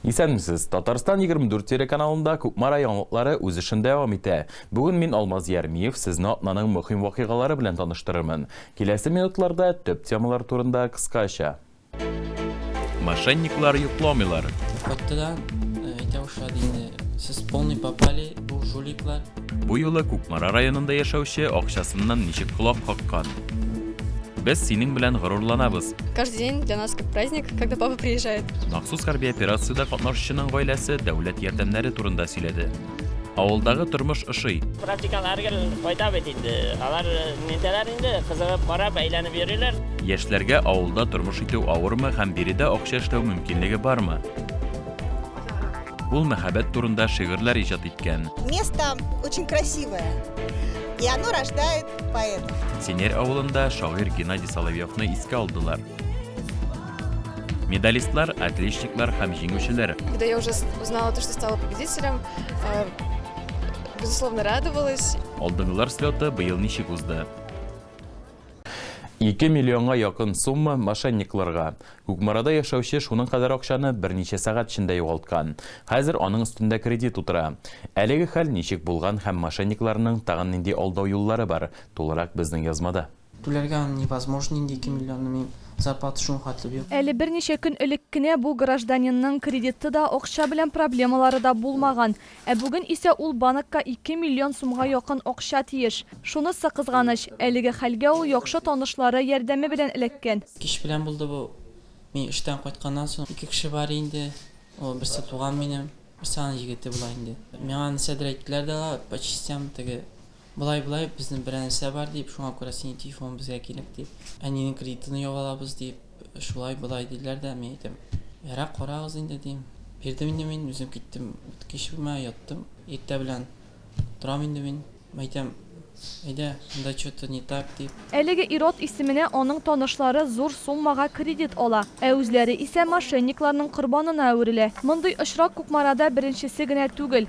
Исәнмесез. Татарстан 24 телеканалында Кукмара яңалыклары үз эшен дәвам итә. Бүген мин Алмаз Ярмиев сезне атнаның мөһим вакыйгалары белән таныштырырмын. Киләсе минутларда төп темалар турында кыскача. Мошенниклар йокламыйлар. Катты да э, әйтә башлады инде. Сез полный попали, бу жуликлар. Бу юлы Кукмара районында яшәүче акчасыннан ничек колак каккан? Без синең белән горурланабыз. Каждый день для нас как праздник, когда папа приезжает. Махсус хәрби операциядә катнашучының гаиләсе дәүләт ярдәмнәре турында сөйләде. Авылдагы тормыш ошый. Практикага һәр гел кайта бит инде. Алар э, нитәләр инде, кызыгып карап, әйләнеп йөриләр. Яшьләргә авылда тормыш итү авырмы һәм биредә акча эшләү мөмкинлеге бармы? Ул мәхәббәт турында шигырьләр иҗат иткән. Место очень красивое, и оно рождает поэтов. Синер авылында шагыйрь Геннадий Соловьевны искә алдылар. Медалистлар, отличниклар һәм җиңүчеләр. Когда я уже узнала то, что стала победителем, э, безусловно, радовалась. Алдынгылар слеты быел ничек узды? 2 миллионга якын сумма мошенникларга. Күкмарада яшәүче шуның кадәр акчаны берничә сәгать эчендә югалткан. Хәзер аның өстендә кредит утыра. Әлеге хәл ничек булган һәм мошенникларның тагын нинди алдау юллары бар? Тулырак безнең язмада. Түләргә аны невозможно инде ике миллионны, минем зарплата шуның хәтле бит. Әле берничә көн элек кенә бу гражданинның кредиты да, акча белән проблемалары да булмаган, ә бүген исә ул банкка ике миллион сумга якын акча тиеш. Шунысы кызганыч, әлеге хәлгә ул яхшы танышлары ярдәме белән эләккән. Кич белән булды бу. Мин эштән кайтканнан соң, ике кеше бар инде, ул берсе туган минем, берсе аның егете була инде. Миңа нәрсәдер әйттеләр дә алар, по частям теге Болай-болай, безнең бер нәрсә бар, дип, шуңа күрә синең телефоның безгә кирәк, дип, әнинең кредитын ябып алабыз, дип, шулай-болай диләр дә, мин әйтәм, Ярар, карагыз инде, дим. Бирдем инде мин, үзем киттем икенче бүлмәгә яттым. Иртә белән торам инде мин, әйтәм, Әйдә, монда чё-то не так, дип. Әлеге ир-ат исеменә аның танышлары зур суммага кредит ала, ә үзләре исә мошенникларның корбанына әверелә. Мондый очрак Кукмарада беренчесе генә түгел.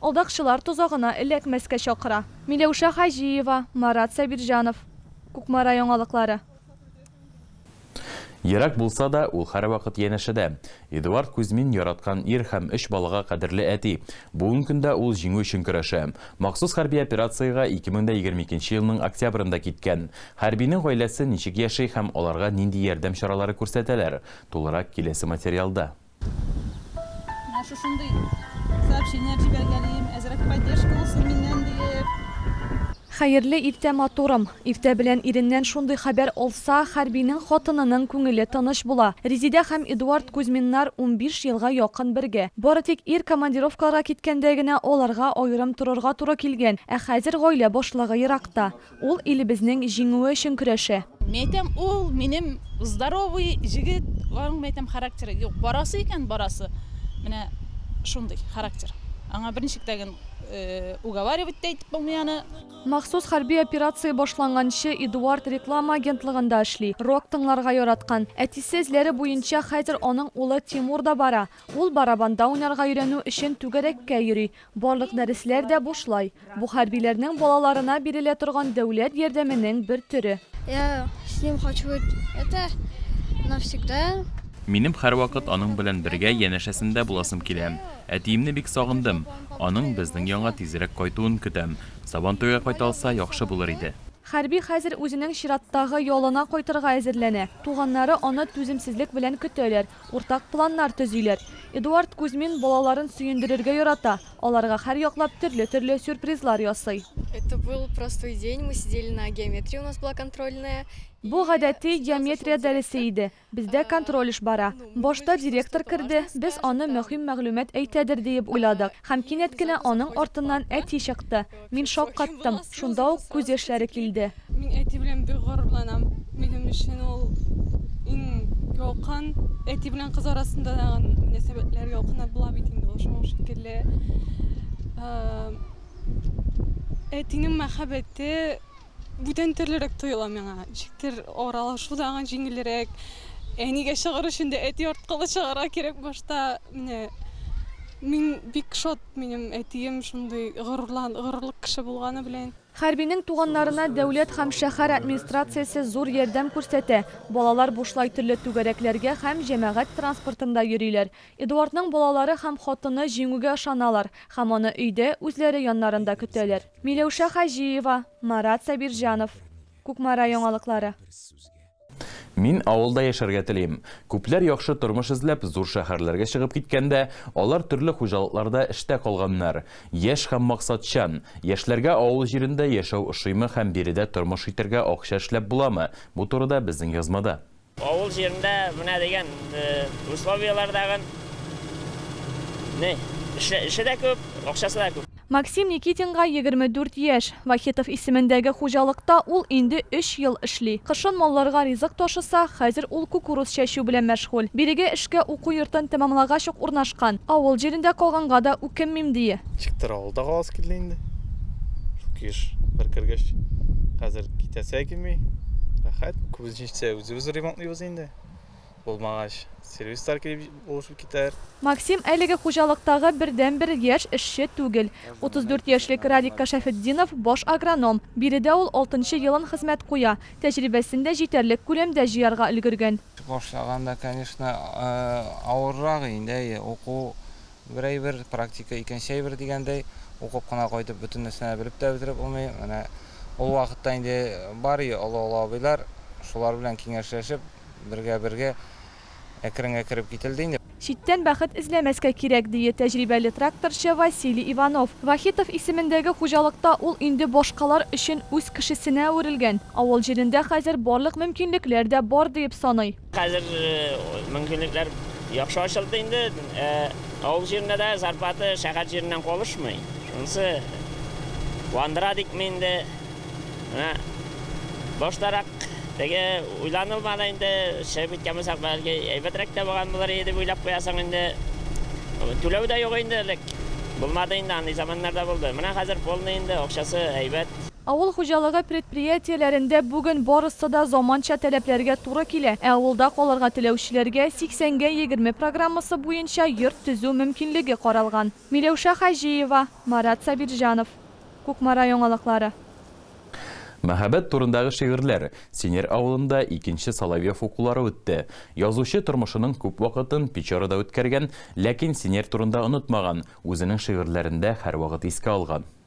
Алдакчылар тозагына эләкмәскә чакыра. Миләүшә Хаҗиева, Марат Сабирҗанов. Кукмара яңалыклары. Ерак булса да, ул һәрвакыт янәшәдә. Эдуард Кузьмин, яраткан ир һәм өч балага кадерле әти. Бүген көндә ул Җиңү өчен көрәшә. Махсус хәрби операциягә 2022 елның октябрендә киткән. Хәрбинең гаиләсе ничек яши һәм аларга нинди ярдәм чаралары күрсәтәләр? Тулырак киләсе материалда. Менә шушындый сообщение җибәргән идем, әзрәк поддержка булсын миннән диеп. Хәерле иртә матурым! Иртә белән иреннән шундый хәбәр алса, хәрбинең хатынының күңеле тыныч була. Резидә һәм Эдуард Кузьминнар унбиш елга якын бергә. Бары тик ир командировкаларга киткәндә генә аларга аерым торырга туры килгән, ә хәзер гаилә башлыгы еракта. Ул илебезнең җиңүе өчен көрәшә. Мин әйтәм, ул, минем здоровый җегет, аның, мин әйтәм, характеры юк. Барасы икән, барасы. Менә шундый характер. Аңа берничек тә ген уговаривать та итеп булмый аны. Махсус хәрби операция башланганчы Эдуард реклама агентлыгында эшли, рок тыңларга яраткан. Әтисе эзләре буенча хәзер аның улы Тимур да бара. Ул барабанда уйнарга өйрәнү өчен түгәрәккә йөри. Барлык дәресләр дә бушлай. Бу хәрбиләрнең балаларына бирелә торган дәүләт ярдәменең бер төре. Я с ним хочу быть это навсегда. Минем һәрвакыт аның белән бергә янәшәсендә буласым килә. Әтиемне бик сагындым. Аның безнең янга тизрәк кайтуын көтәм. Сабантуйга кайта алса, яхшы булыр иде. Хәрби хәзер үзенең чираттагы ялына кайтырга әзерләнә. Туганнары аны түземсезлек белән көтәләр. Уртак планнар төзиләр. Эдуард Кузьмин балаларын сөендерергә ярата, аларга һәрьяклап төрле-төрле сюрпризлар ясый. Это был простой день, мы сидели на геометрии, у нас была контрольная. Бу гадәти геометрия дәресе иде, бездә контроль эш бара. Башта директор керде, без аны мөһим мәгълүмат әйтәдер диеп уйладык. Һәм кинәт кенә аның артыннан әти чыкты. Мин шаккаттым. Шунда ук күз яшьләре килде. Мин әти белән бик горурланам. Минем өчен ул иң ялкын, әти белән кыз арасында да мөнәсәбәтләр ялкыннар була бит инде ул шуның шикелле. Әтинең мәхәббәте Бүтән төрлерәк тоела миңа. Ничектер аралашу да аңа җиңелрәк. Әнигә чыгыр өчен дә әти арткылы чыгарга кирәк башта. Менә мин бик шат минем әтием шундый горурлан, горурлык кеше булганы белән. Хәрбинең туганнарына дәүләт һәм шәһәр администрациясе зур ярдәм күрсәтә. Балалар бушлай төрле түгәрәкләргә һәм җәмәгать транспортында йөриләр. Эдуардның балалары һәм хатыны Җиңүгә ышаналар һәм аны өйдә, үзләре яннарында көтәләр. Миләүшә Хаҗиева, Марат Сабирҗанов, Кукмара яңалыклары. Мин авылда яшәргә телим. Күпләр яхшы тормыш эзләп, зур шәһәрләргә чыгып киткәндә, алар төрле хуҗалыкларда эштә калганнар. Яшь һәм максатчан. Яшьләргә авыл җирендә яшәү ошыймы һәм биредә тормыш итәргә акча эшләп буламы, бу турыда безнең язмада. Авыл җирендә менә дигән условияләр дә гын, не, эше, эше дә күп, акчасы да күп. Максим Никитинга егерме дүрт яшь. Вахитов исемендәге хуҗалыкта ул инде өч ел эшли. Кышын малларга ризык ташыса, хәзер ул кукуруз чәчү белән мәшгуль. Бирегә эшкә уку йортын тәмамлагач ук урнашкан. Авыл җирендә калганга да үкенмим, дие. Ничектер авылда каласы килде инде. Шук еш бер кергәч, хәзер китәсе килми. Рәхәт, күбесенчә. Иртә үзебез ремонтлыйбыз инде. Булмагач, сервистар килеп булышып китәр. Максим әлеге хуҗалыктагы бердәнбер яшь эшче түгел. 34 яшьлек Радик Кашәфетдинов, баш агроном. Биредә ул алтынчы елын хезмәт куя. Тәҗрибәсен дә җитәрлек күләмдә җыярга өлгергән. Башлаганда, конечно, авыррак инде, әйе, уку Бер әйбер, практика, икенче әйбер дигәндәй, укып кына кайтып, бөтен нәрсәне белеп тә бетереп булмый. Менә ул вакытта инде бар и олы-олы абыйлар, шулар белән киңәшләшеп, бергә-бергә әкренге кереп кителде инде. Читтән бәхет эзләмәскә кирәк, дие тәҗрибәле тракторчы Василий Иванов. Вахитов исемендәге хуҗалыкта ул инде башкалар өчен үз кешесенә әверелгән, авыл җирендә хәзер барлык мөмкинлекләр дә бар диеп саный. Хәзер мөмкинлекләр яхшы ачылды инде. Авыл җирендә дә зарплата шәһәр җиреннән калышмый. Шунысы куандыра дикме инде. Менә баштарак теге уйланылмады инде, чыгып киткән булсак, бәлки әйбәтрәк тә булган булыр иде дип уйлап куясың инде. Түләү дә юк инде элек. Булмады инде, андый заманнар да булды. Менә хәзер полный инде, акчасы әйбәт. Авыл хуҗалыгы предприятиеләрендә бүген барысы да заманча таләпләргә туры килә, ә авылда калырга теләүчеләргә 80гә 20 программасы буенча йорт төзү мөмкинлеге каралган. Миләүшә Хаҗиева, Марат Сабирҗанов. Кукмара яңалыклары. Мәхәббәт турындагы шигырьләр. Синер авылында икенче Соловьев укулары үтте. Язучы тормышының күп вакытын Печорада үткәргән, ләкин Синер турында онытмаган, үзенең шигырьләрендә һәрвакыт искә алган.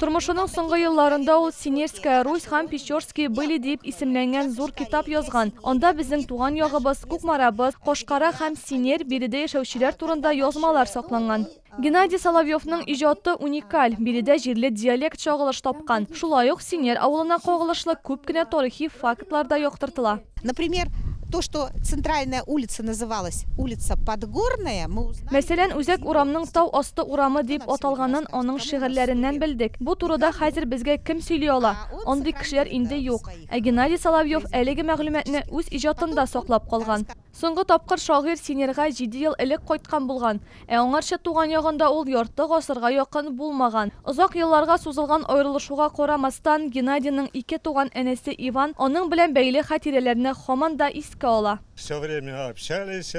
Тормышының соңгы елларында ул Синерская Русь һәм Печорские были диеп исемләнгән зур китап язган. Анда безнең туган ягыбыз, Кукмарабыз, Кошкара һәм Синер, биредә яшәүчеләр турында язмалар сакланган. Геннадий Соловьевның иҗаты уникаль, биредә җирле диалект чагылыш тапкан. Шулай ук Синер авылына кагылышлы күп кенә тарихи фактлар да яктыртыла. Например, то, что центральная улица называлась улица Подгорная, мы узнали... Мәсәлән, Үзәк урамның Тау асты урамы дип аталганын аның шигырьләреннән белдек. Бу турыда хәзер безгә кем сөйли ала? Андый кешеләр инде юк. Ә Геннадий Соловьев әлеге мәгълүматны үз иҗатында саклап калган. Соңгы тапкыр шагыйрь Синерга җиде ел элек кайткан булган. Ә аңарчы туган ягында ул ярты гасырга якын булмаган. Озак елларга сузылган аерылышуга карамастан, Геннадийның ике туган энесе Иван аның белән бәйле хатирәләрне һаман да искә ала. Всё время общались,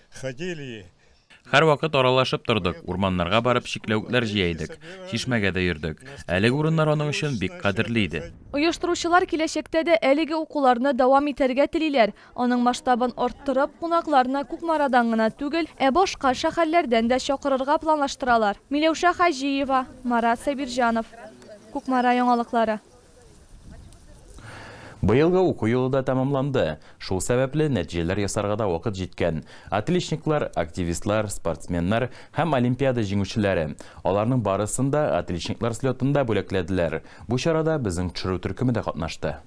ходили. Һәрвакыт аралашып тордык, урманнарга барып чикләвекләр җыя идек, чишмәгә дә йөрдек. Әлеге урыннар аның өчен бик кадерле иде. Оештыручылар киләчәктә дә әлеге укуларны дәвам итәргә телиләр. Аның масштабын арттырып, кунакларны Кукмарадан гына түгел, ә башка шәһәрләрдән дә чакырырга планлаштыралар. Миләүшә Хаҗиева, Марат Сабирҗанов. Кукмара яңалыклары. Быелгы уку елы да тәмамланды. Шул сәбәпле, нәтиҗәләр ясарга да вакыт җиткән. Отличниклар, активистлар, спортсменнар һәм олимпиада җиңүчеләре. Аларның барысын да Отличниклар слетында бүләкләделәр. Бу чарада безнең төшерү төркеме дә катнашты.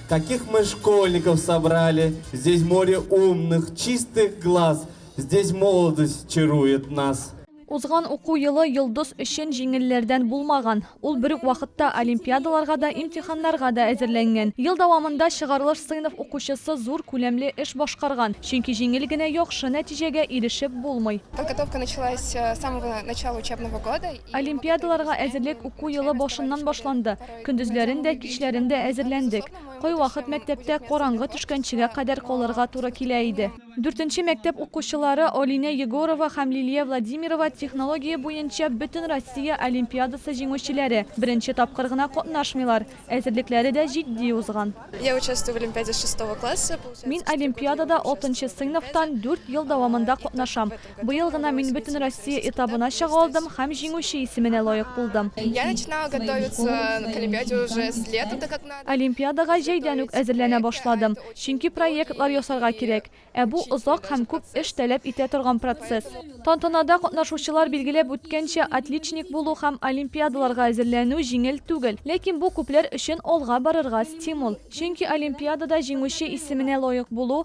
Каких мы школьников собрали Здесь море умных, чистых глаз Здесь молодость чарует нас. Узган уку елы Йолдыз өчен җиңелләрдән булмаган. Ул бер үк вакытта олимпиадаларга да, имтиханнарга да әзерләнгән. Ел дәвамында чыгарылыш сыйныф укучысы зур күләмле эш башкарган, чөнки җиңел генә яхшы нәтиҗәгә ирешеп булмый. Подготовка началась с самого начала учебного года. Олимпиадаларга әзерлек уку елы башыннан башланды. Көндезләрен дә, кичләрен дә әзерләндек. Кайвакыт мәктәптә караңгы төшкәнчегә кадәр калырга туры килә иде. Дүртенче мәктәп укучылары Алинә Егорова һәм Лилия Владимирова технология буенча Бөтенроссия олимпиадасы җиңүчеләре. Беренче тапкыр гына катнашмыйлар, әзерлекләре дә җитди узган. Мин олимпиадада алтынчы сыйныфтан дүрт ел дәвамында катнашам. Быел гына мин Бөтенроссия этабына чыга алдым һәм җиңүче исеменә лаек булдым. Олимпиадага җәйдән үк әзерләнә башладым, чөнки проектлар ясарга кирәк, ә бу озак һәм күп эш таләп итә торган процесс. Тантанада катнашучылар билгеләп үткәнчә, отличник булу һәм олимпиадаларга әзерләнү җиңел түгел. Ләкин бу күпләр өчен алга барырга стимул. Чөнки олимпиадада җиңүче исеменә лаек булу,